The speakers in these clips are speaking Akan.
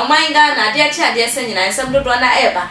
ɔman ghana adeɛ kye adeɛ sɛ nyinaa nsɛm dodoɔ na ɛreba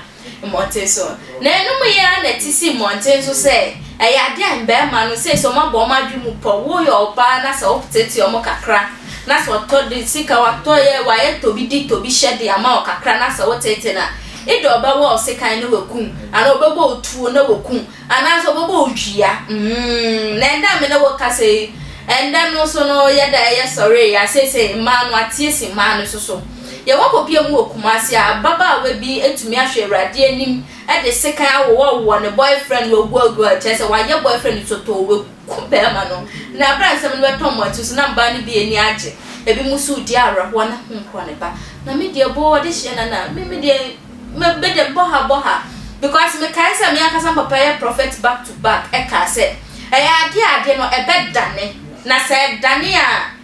mmɔnten so na ɛnom yɛ a na ɛte si mmɔnten so sɛ ɛyɛ adeɛ a mmarima no sɛ sɛ ɔma bɔ ɔma adwe mu pɔ woyɛ ɔbaa na sɛ wotetete ɔmo kakra Na sɛ ɔtɔ de sika watɔ yɛ wayɛ tobi di tobi hyɛ de ama wo kakra na sɛ woteetee no a, eda ɔbɛwɔ wo sekan na wakum anaa ɔbɛbɔ wo tuo na wakum anaasɛ ɔbɛbɔ wo dua mm na ɛnda a me ne wo kasa yi ɛnda no nso no yɛda ɛyɛ sɔree a seesei mmaa no ateɛ si mmaa no nso so Yɛwɔ popeɛ mu wɔ Kumasi a ababaawa bi atumi ahwɛ Awurade anim de sekan awowawowa ne boyfriend waguaguaa kyerɛ sɛ wayɛ boyfriend sotɔɔ wagu kum barima no, na bere a nsɛm no bɛtɔ wɔn akyi nso na mmaa no bi ani agye, ebinom nso redi awerɛhoɔ na ho nkorɔ ne ba. Na me deɛ boo adehyeɛ nana, me me deɛ me me deɛ bɔ ha bɔ ha because mekae sɛ me ankasa me papa yɛ prophet back to back ɛkaa sɛ ɛyɛ adeɛ a adeɛ no ɛbɛdane na sɛ ɛdane a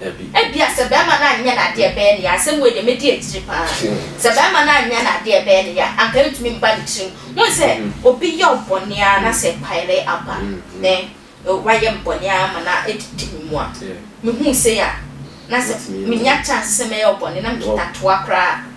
Dabi. Ebia sɛ barima no anyɛ n'ade a ɛbɛyɛ no ya, asɛm wei deɛ mɛdi akyire pa ara, sɛ barima no anyɛ n'ade a ɛbɛyɛ no ya a, anka ɛntumi mba ne tirim. Wohu sɛ obi yɛ wo bɔne ara na sɛ ɛpaere aba ne wayɛ me bɔne ara ma no adidi me mu a, mehuu sei a, na sɛ menya chance sɛ mɛyɛ wo bɔne na mekita toa koraa a,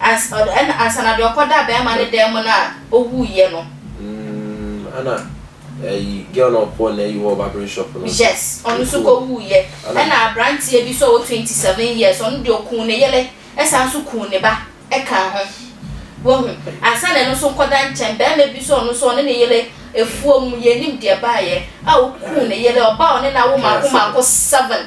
Ans, ɔd, ɛna ansa na deɛ ɔkɔdaa bɛɛma no dan mu no a ɔwuiɛ no. Mm, ɛna ɛyi, girl no a ɔkɔɔ n'ayi hɔ barbering shop no. Yes, ɔno nso Ɔkuo, kɔwuiɛ. ɛna. Ɛna abranteɛ bi nso a ɔwɔ twenty seven years, ɔno deɛ ɔkuu ne yere ɛsan nso kuu ne ba ɛkaa ho. Wahu? Ansa na ɛno nso nkɔda nkyɛn, bɛɛma bi nso a ɔno nso ɔne ne yere afuom, yɛnnim deɛ ɛbaeɛ, a ɔkuu ne yere, ɔba a ɔne no awo Ɔkaa mmaako seven. mmaako seven.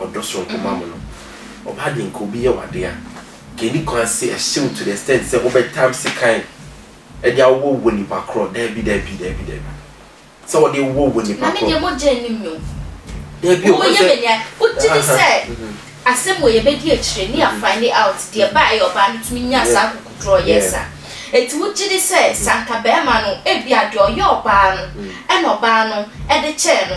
ɔdɔ soronko ma mo no, ɔba dɛn ka obi yɛ wo ade a, nka enni kwan se ɛhye wo to the extent sɛ wobɛtam sekan de awowɔ wo nipa korɔ, daabi, daabi, daabi, daabi, sɛ wɔde wowɔ wo nipa korɔ. Na me deɛ mogya nnim me o. Daabi o, woyɛ me nea wogye di sɛ asɛm wei yɛbɛdi akyire ne yɛ find out deɛ ɛbaa ɛyɛ ɔbaa no tumi nyaa saa akokoduro yes a, enti wogye di sɛ sɛ anka barima no ebia deɛ ɔyɛ ɔbaa no ɛna ɔbaa no de kyɛɛ no.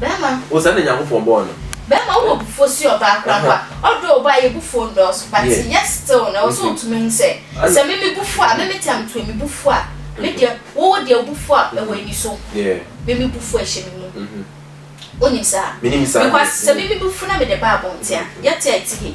Bɛɛma. Wo saa na Nyankopɔn bɔɔ no. Bɛɛma wo wɔ abufuo si ɔbaa koraa mpo a, ɔdɔ ɔbaa yɛ bufuo ndɔɔso but yet still no ɛwɔ sɛ ɔtumi hu sɛ sɛ me me bufuo a me me time to me bufuo a me deɛ wo wo deɛ wo bufuo a ɛwɔ ani so me me bufuo a ɛhyɛ me mu wonim saa? Menim saa deɛ. Because sɛ me me bufuo na me de ba abɔnten a yɛte a ɛte yie.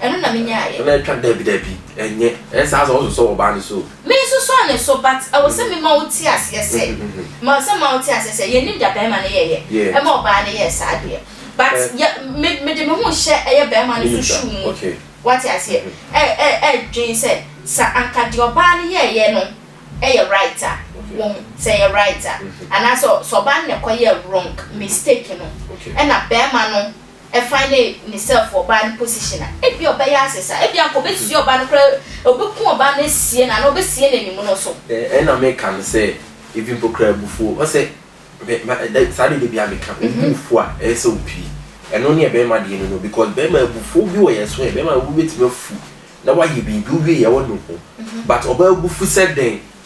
Ɛno na menyaa yɛ. Na ɛtwa dabi dabi ɛnyɛ. Ɛyɛ saa sɛ ɔsosɔ ɔbaa no so o. Me nsosɔ ne so but ɛwɔ sɛ me ma wo te aseɛ sɛ ma sɛ ma wo te aseɛ sɛ yɛnim da bɛɛma no yɛ yɛ ɛma ɔbaa no yɛɛ saa deɛ but yɛ me me de me ho hyɛ ɛyɛ bɛɛma no so shoe mu wate aseɛ ɛ ɛ ɛ dwen sɛ sa anka deɛ ɔbaa no yɛɛ yɛ no ɛyɛ right a wɔhu sɛ ɛyɛ right a anaa sɛ sɛ ɔbaa no na ɛkɔ yɛɛ wrong mistake no ɛna bɛɛma no finding himself wɔ ɔbaa no position a ebia ɔbɛyɛ ase saa ebia anka ɔbɛsua ɔbaa no koraa ɔbɛku ɔbaa no asie no anaa ɔbɛsie no anim no so. Ɛɛ ɛna meka no sɛ even mpo koraa abufuo ɔsɛ me ma da saa deɛ dabiaa meka obu wo fo a ɛyɛ sɛ ɔpie ɛno ne ɛbɛɛma deɛ no no because bɛɛma abufuo bi wɔ yɛ so ɛ bɛɛma wobɛtumi afu na wayɛ biribi wowie yɛ wɔ no ho but ɔbaa abufu sɛ dɛn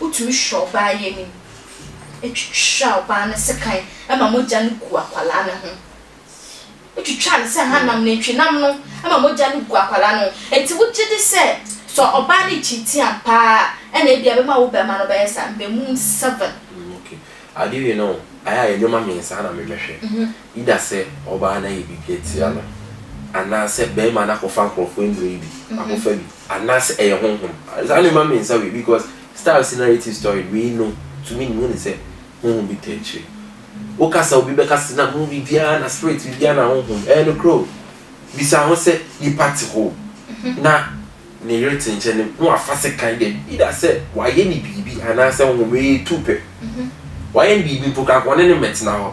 Wotumi hwɛ ɔbaa yi anim, twitwa ɔbaa no sekan ma mogya no gu akwadaa no ho. Wotwitwaa no sɛ hanam, nantwinam no ma mogya no gu akwadaa no ho. Enti wogye di sɛ, sɛ ɔbaa no kyinkyin ampa ara a, ɛnna ebia ɛbɛma wo barima no bɛyɛ saa. Mmamu seven. Mm, ok. Ade wei no, ayɛ a nneɛma mmiɛnsa ara na mebɛhwɛ. Either sɛ ɔbaa no ayɛ biribi atia no, anaasɛ barima no akɔfa nkurɔfoɔ nnuro yi bi akɔfa bi. Anaasɛ ɛyɛ honhom? Saa no mma me nsa wei because style sɛ narrative story no wei no to me mehu no sɛ honhom bi ta akyire. Wo kasa obi bɛka sɛ na movie biara na spirit biribiara na honhom ɛyɛ nokorɛ o. Bisa ho sɛ nipa te hɔ na ne yere te nkyɛn no na wafa sekan dɛ either sɛ wayɛ no biribi anaasɛ honhom wei yɛ tu pɛ. Wayɛ no biribi mpo koraa nka ɔne no mmɛtena hɔ.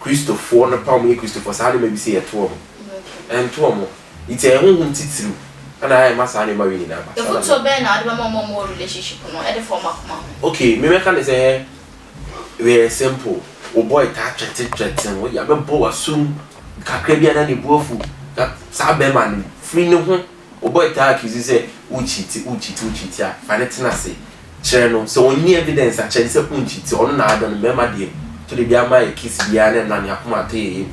Kristofoɔ no pam nye Kristofoɔ saa nneɛma bi se yɛ to wɔn ho. Ɛnto wɔn ho. Nti ɛyɛ honhom titiriw na ayɛ ma saa nneɛma wei nyinaa ba. Mfɔtuo bɛn na wode bɛma wɔn a wɔwɔ relationship no de fa wɔn akoma ho? Ok, me mɛka ne sɛ wei yɛ simple. Wo boy taa threaten threaten wo, yɛabɛbɔ w'asom kakra bi a na ne bo afu. Na saa bɛɛma no firi ne ho. Oboy taa accuse you sɛ wo cheati, wo cheati, wo cheati a, fa no tena ase kyerɛ no. Sɛ onni evidence a, kyerɛ no sɛ woncheati. Ɔno na adɔ no. Mmarima deɛ, to de biara ma yɛ kiss biara na ɛma ne akoma atɔ yɛ yam.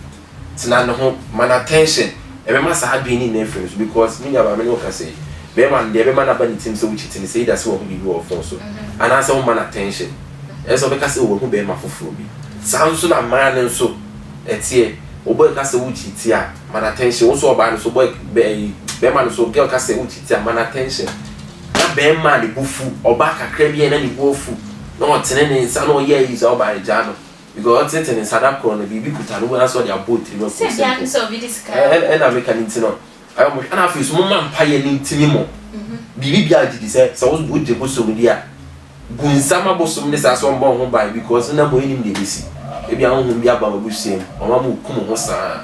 Tena ne ho, ma no attention. Ɛbɛma saa adwene no nyinaa afiri no so because me nuabaa me ne wo kasa yi, barima no deɛ ɛbɛma no aba ne tirim sɛ wocheati no sɛ either sɛ wahu biribi wɔ wo phone so anaasɛ womma no attention. Ɛnyɛ sɛ ɔbɛka sɛ oh wahu barima foforɔ bi. Saa nso na mmaa no nso ɛteɛ. Oboy ka sɛ wocheati a, Man attention wo so ɔbaa no so boy bɛɛyi bɛɛma no so girl ka sɛ wo cheat a man attention na bɛɛma ne bo fu ɔbaa kakra bi a na ne bo afu na ɔtene ne nsa na ɔyɛ ayi saa ɔbaa no gyaa no because ɔtenetene ne nsa da koro no biribi kuta no anaasɛ ɔde abɔ tirim afu simple ɛna meka ne nti no ayɛ ɔmo hwɛ ɛna afei so mo ma mpa yɛ ne ntini mo biribi bia gye di sɛ sɛ wo gye bosom di a gu nsam abosom ne saa so mbɔ ho ban because wo nam ennim deɛ ebesi. Ebia honhom bi aba w'abusua mu ma wama wo kum ho saa.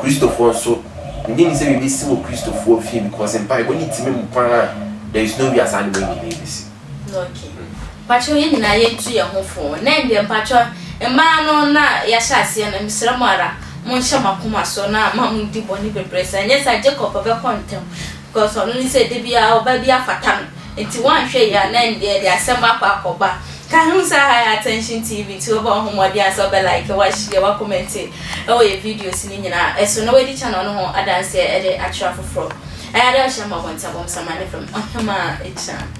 Kristofoɔ nso, mennye nni sɛ biribi besi wɔ Kristofoɔ fie because mpaebɔ ne tumi mu paa a there is no wia saa nneɛma yi nyinaa ebesi. Okay. Mpakyɛw yɛn nyinaa yɛntu yɛn ho fo. Nnɛ deɛ mpakyɛw mmaa no na yɛahyɛ aseɛ no, mesrɛ mo ara monhyɛ mo akoma so na ma mondi bɔne bebree saa. Ɛnyɛ saa a Jacob bɛkɔ ntɛm Because ɔno nim sɛ da biara ɔba bi afata no nti wanhwɛ yie a na ɛnde ɛde asɛm akɔ akɔba ka ho saa high attention TV nti wobɔ ho mmɔden a sɛ wobɛ like wa share wa comment ɛwɔ yɛ videos no nyinaa ɛso na wadi channel no ho adanseɛ ɛde akyerɛ afoforɔ ɛyɛ ada ɔhyɛ ma bɔnta bɔm sama ne fam ɔhemaa ɛgyina.